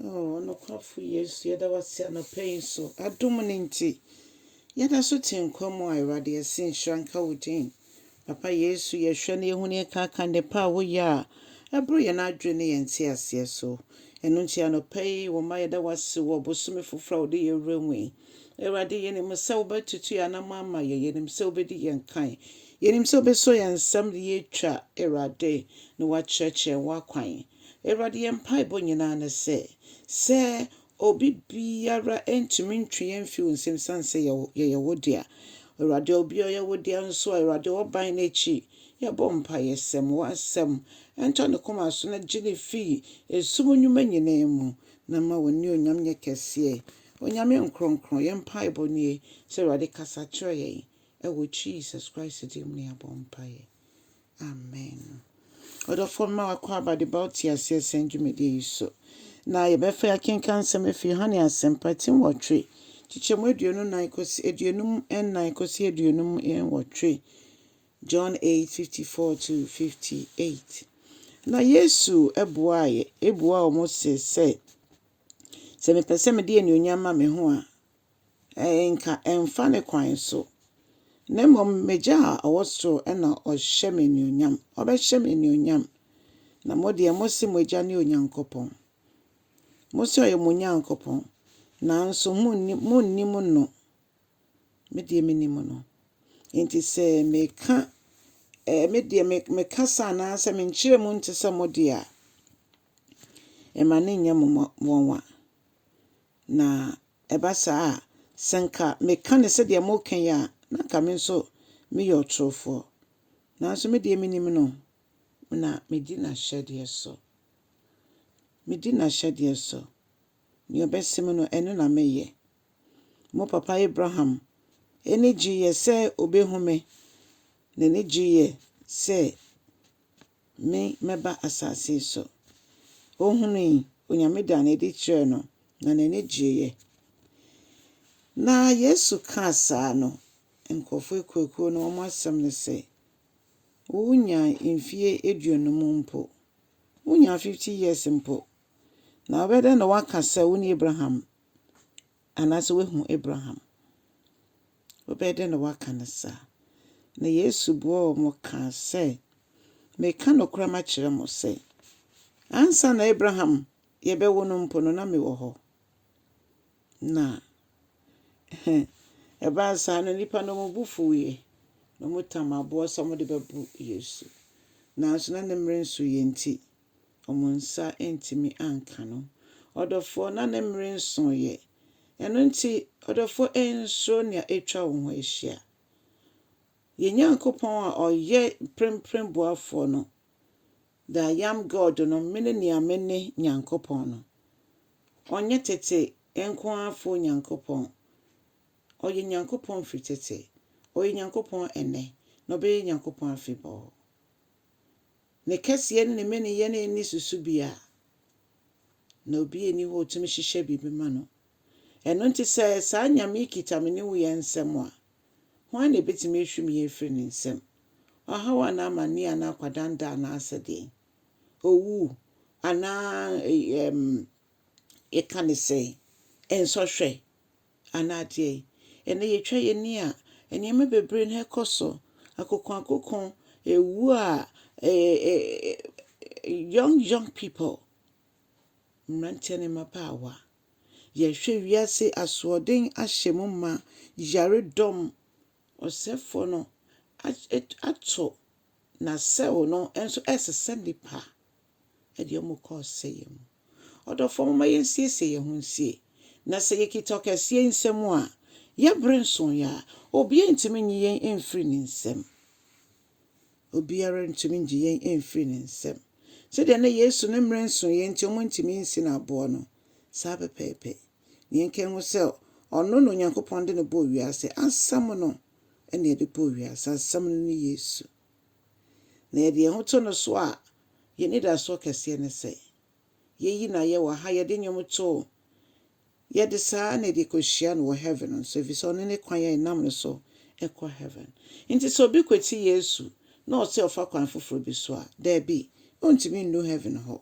Oh, ɔnokwafo Yesu, yɛda wo ase anɔpa yi nso. Adom no nti, yɛda so te nkwa mu a Awurade yɛse nhyira nka wo din. Papa Yesu, yɛhwɛ na yɛhu ne yɛkaaka nnepa a woyɛ a, ɛboro yɛn adwene ne yɛn nteaseɛ so. Ɛno nti anɔpa yi, wo mma yɛda wo ase wɔ bosome foforɔ a wode yɛn wura mu yi. Awurade, yɛnim sɛ wobɛtutu yɛn anamɔ ama yɛn, yɛnim sɛ wobɛdi yɛn kan, yɛnim sɛ wobɛsɔ yɛn nsam de yɛatwa, Awurade, na woakyerɛkyerɛ yɛn w'akwan. Awurade, yɛn mpaebɔ nyinaa ne sɛ, sɛ obi biara ntumi ntwe yɛn mfi wo nsam esiane sɛ yɛyɛ wo dea. Awurade, obi a ɔyɛ wo dea nso a, Awurade, ɔban n'akyi. Yɛbɔ mpaeɛ sɛ ma w'asɛm ntɔ ne koma so na gye no fi esum nnwuma nyinaa mu, na ma w'anuonyam nyɛ kɛseɛ. Onyame nkorɔnkorɔn, yɛn mpaebɔ nie sɛ, Awurade, kasa kyerɛ yɛn. Ɛwɔ Jesus Christ din mu na yɛabɔ mpaeɛ. Amen ɔdɔfoɔ mema w'akwaaba de ba wo te aseɛ sɛn dwumadie yi so na yɛbɛfa akenkan nsɛm afiri Yohane asɛmpa ti nwɔtwe kyekyɛ mu aduonu nan kɔsi aduonum nnan kɔsi aduonum nwɔtwe John 8 54 to 58 na Yesu ɛboaeɛ ɛbua wɔn se sɛ sɛ mepɛ sɛ mede anuonyam ma me ho a Anka ɛmfa ne kwan so. Na mmom m'Agya a ɔwɔ soro na ɔhyɛ me anuonyam. Ɔbɛhyɛ me anuonyam. Na mo deɛ mose mo agya ne Onyankopɔn. Mose ɔyɛ mo Onyankopɔn. Nanso monnim no. Me deɛ menim no. Enti sɛ meka me deɛ mekasa anaasɛ menkyerɛ mu nte sɛ mo deɛ a, ɛma no nyɛ mo nwanwa. Na ɛba saa a, sɛ anka meka no sɛdeɛ moreka yi a, na anka me nso meyɛ ɔtorofoɔ. Nanso me deɛ menim no, na medi n'ahyɛdeɛ so. Medi n'ahyɛdeɛ so. Deɛ ɔbɛse me no, ɛno na meyɛ. Mo papa Abraham ani gyeeɛ sɛ ɔbɛhu me. N'ani gyeeɛ sɛ Me mɛba asase yi so. Ɔhunui, Onyame daa no adi kyerɛɛ no, na n'ani gyeeɛ. Na Yesu kaa saa no, nkurɔfoɔ akuakuo no wɔn asɛm ne sɛ, Wonyaa mfie aduonum mpo, wonyaa fifty years mpo, na wobɛdɛn na woaka sɛ wone Abraham Anaasɛ woahu Abraham? Wobɛyɛ dɛn na woaka no saa? Na Yesu buaa wɔn kaa sɛ, Mereka nokorɛm akyerɛ mo sɛ, ansa na Abraham yɛbɛwo no mpo no, na mewɔ hɔ. Na ɛbaa saa no, nnipa no wɔn bo fuiɛ, na wɔtam aboɔ sɛ wɔde bɛbu Yesu. Nanso na ne mmerɛ nsuiɛ nti, wɔn nsa antumi anka no. Ɔdɔfoɔ, na ne mmere nsoeɛ. Ɛno nti, ɔdɔfoɔ, nsuro nea atwa wo ho ahyia. Yɛn Nyankopɔn a ɔyɛ mprempren boafoɔ no, The I Am God no, Mene nea mene Nyankopɔn no. Ɔnyɛ tete nko ara foɔ Nyankopɔn. Ɔyɛ Nyankopɔn firi tete, ɔyɛ Nyankopɔn ɛnnɛ, na ɔbɛyɛ Nyankopɔn afebɔɔ. Ne kɛseɛ ne ne mmaniyɛ no nni so so biara, na obiara nni hɔ a ɔtumi hyehyɛ biribi ma no. Ɛno nti sɛ saa Nyame yi kita me ne wo yɛn nsam a, hwan na ɛbɛtumi ahwim yɛn afiri ne nsam? Ɔhaw anaa amanneɛ anaa akwadanda anaasɛ deɛn? Owu anaa ɛm, yɛka ne sɛn? Nsɔhwɛ Anaa deɛn? Ɛnnɛ yɛtwa yɛn ani a, nneɛma bebree na ɛrekɔ so. Akokoakoko, ɛwu a young young people, mmeranteɛ ne mmabaawa. Yɛhwɛ wiase asoɔden ahyɛ mu ma, yaredɔm, ɔsɛefoɔ no ato n'asau no nso ɛresesa nnipa. Ɛde wɔn kɔ ɔsɛeɛ mu. Ɔdɔfoɔ momma yɛnsiesie yɛn ho nsie. Na sɛ yɛkita ɔkɛseɛ nsam a, yɛn bere nsoeɛ a, obiara ntumi nyi yɛn mfiri ne nsam. Obiara ntumi ngye yɛn mfiri ne nsam. Sɛdeɛ na Yesu ne mmerɛ nsoeɛ nti wɔntumi nsi no aboɔ no, saa pɛpɛɛpɛ na yɛnka nhu sɛ ɔno na Onyankopɔn de no bɔɔ wiase. Asɛm no na ɛde bɔɔ wiase. Asɛm no ne Yesu. Na yɛde yɛn ho to no so a, yɛn anidasoɔ kɛseɛ ne sɛ, yei na yɛwɔ ha, yɛde nnwom to, yɛde saa na yɛde kɔhyia no wɔ heaven nso, ɛfiri sɛ ɔno ne kwan a yɛnam no so kɔ heaven. Nti sɛ obi kwati Yesu na ɔse ɔfa kwan foforɔ bi so a, daabi, ɔntumi nnu heaven hɔ.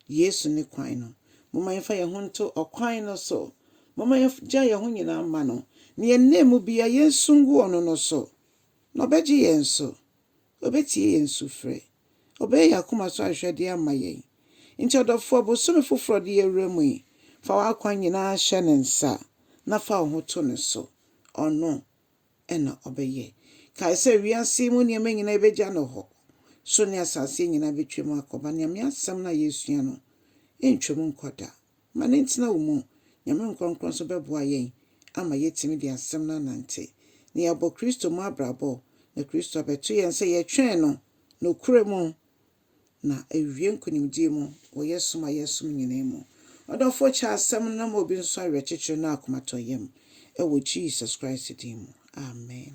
Yesu ne kwan no. Momma yɛmfa yɛn ho nto ɔkwan no so. Momma yɛgyae yɛn ho nyinaa mma no, na yɛn nna mu biara yensu ngu ɔno no so, na ɔbɛgye yɛn so. Obetie yɛn sufrɛ. Ɔbɛyɛ yɛn akoma so ahwehwɛde ama yɛn. Enti ɔdɔfoɔ, bosome foforɔ a ɔde yɛawura mu yi, fa w'akwan nyinaa hyɛ ne nsa, na fa wo ho to no so. Ɔno, na ɔbɛyɛ. Kae sɛ, wiase yi mu nneɛma nyinaa ebegya no hɔ. So ne asase nyinaa betwam akɔba Nyame asɛm no a yɛresua no? Entwam nkɔ da. Ma no ntena wo mu. Nyame nkrɔnkrɔn nso bɛboa yɛn ama yɛatumi de asɛm no anante, na yɛabɔ Kristo mu abrabɔ, na Kristo abɛto yɛn sɛ yɛtwɛn no nokorɛ mu na awie nkonimdie mu wɔ yɛ som a yɛresom nyinaa mu. Ɔdɔfoɔ kyɛ asɛm no na ma obi nso awerɛkyekyerɛ ne akomatɔyam wɔ Jesus Christ din mu, amen.